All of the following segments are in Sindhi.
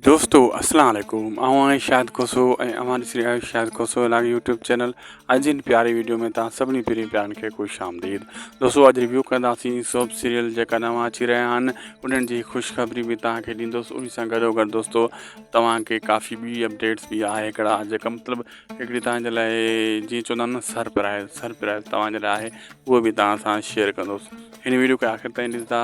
دوستو السلام عليڪم آئون آهي شاهد کوسو ۽ اوهان ڏسي رهيا آهيو شاهد کوسو لاڳ يوٽيوب چينل اڄ جن پياري ويڊيو ۾ تان سڀني پرين پيارن کي خوش آمديد دوستو اڄ ريويو ڪنداسين سوپ سيريل جيڪا نوان اچي رهيا آهن انهن جي خوشخبري به تان کي ڏيندوس ان سان گڏو گڏ دوستو توهان کي ڪافي ٻي اپڊيٽس به آهي هڪڙا جيڪا مطلب هڪڙي توهان جي لاء جيئن چوندا آهن سرپرائز سرپرائز توهان جي لاء آهي اهو به توهان سان شيئر ڪندوس هن ويڊيو کي آخر تائين ڏسندا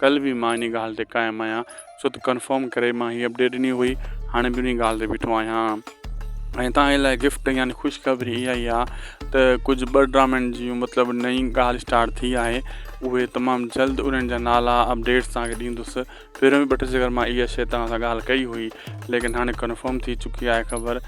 ڪلهه به مان انهي ڳالهه تي قائم آهيان ڇو ته ڪنفرم ڪري مان هي اپڊيٽ ڏني هئي هاڻي به انهي ڳالهه تي بيٺو آهيان ۽ توهان لاء گفٽ يعني خوشخبري اها ئي آهي ته ڪجهه ٻه ڊرامن جي مطلب نئين ڳالهه اسٽارٽ ٿي آهي اهي تمام جلد انهن جا نالا اپڊيٽس توهان کي ڏيندس پهريون به ٻه ٽي جي مان اها شيء توهان سان ڳالهه ڪئي هئي ليڪن هاڻي ڪنفرم ٿي چڪي آهي خبر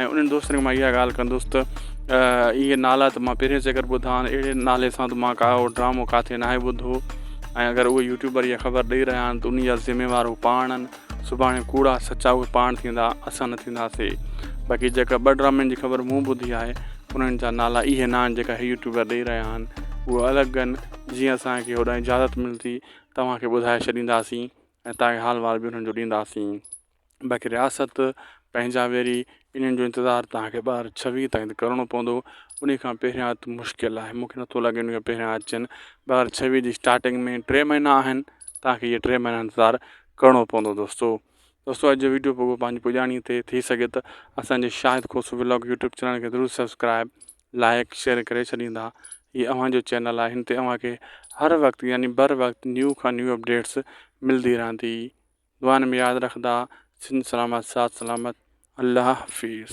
۽ انهن دوستن کي مان اها ڳالهه ڪندس ته اهي نالا ته مان پهرين چڪر ٻڌا آهن اهڙي نالي سان ته مان ڪاهو ڊرامو ڪاٿي ناهي ٻڌو ۽ اگر اهي يوٽيوبر اها خبر ڏئي رهيا آهن ته ان جا ذميوار هو پاڻ آهن سڀاڻي ڪوڙا سچا اهي پاڻ ٿيندا اسان نه ٿينداسي باقي جيڪا ٻه ڊرامن جي خبر مون ٻڌي آهي انهن جا نالا اهي ناهن جيڪا هي يوٽيوبر ڏئي رهيا آهن اهو الڳ آهن جيئن اسانکي هوڏانهن اجازت ملندي توهانکي ٻڌائي ڇڏينداسين ۽ تاڪي حال وار به انهن جو ڏينداسين باقي رياست پنهنجا ويري انهن جو انتظار تهانکي ٻه هزار ڇويهه تائين ته ڪرڻو پوندو انهي کان پهريان ته مشڪل آهي مونکي نٿو لڳي انهي کان پهريان اچن ٻه هزار ڇويهه جي اسٽارٽنگ ۾ ٽي مهينا آهن تهانکي اهي ٽي مهينا انتظار ڪرڻو پوندو دوستو دوستو اڄ جو ويڊيو پوگو پنهنجي پڄاڻي تي ٿي سگهي ته اسانجي Shahid Khoso vlog YouTube channel کي ضرور سبسڪرائب لائق شيئر ڪري ڇڏيندا هي اوهانجو چينل آهي هن تي اوهانکي هر وقت يعني بر وقت نيو کان نيو اپڊيٽس ملدي رهندي دعائن ۾ ياد رکندا سنڌ سلامت ساٿ سلامت الله حفيظ.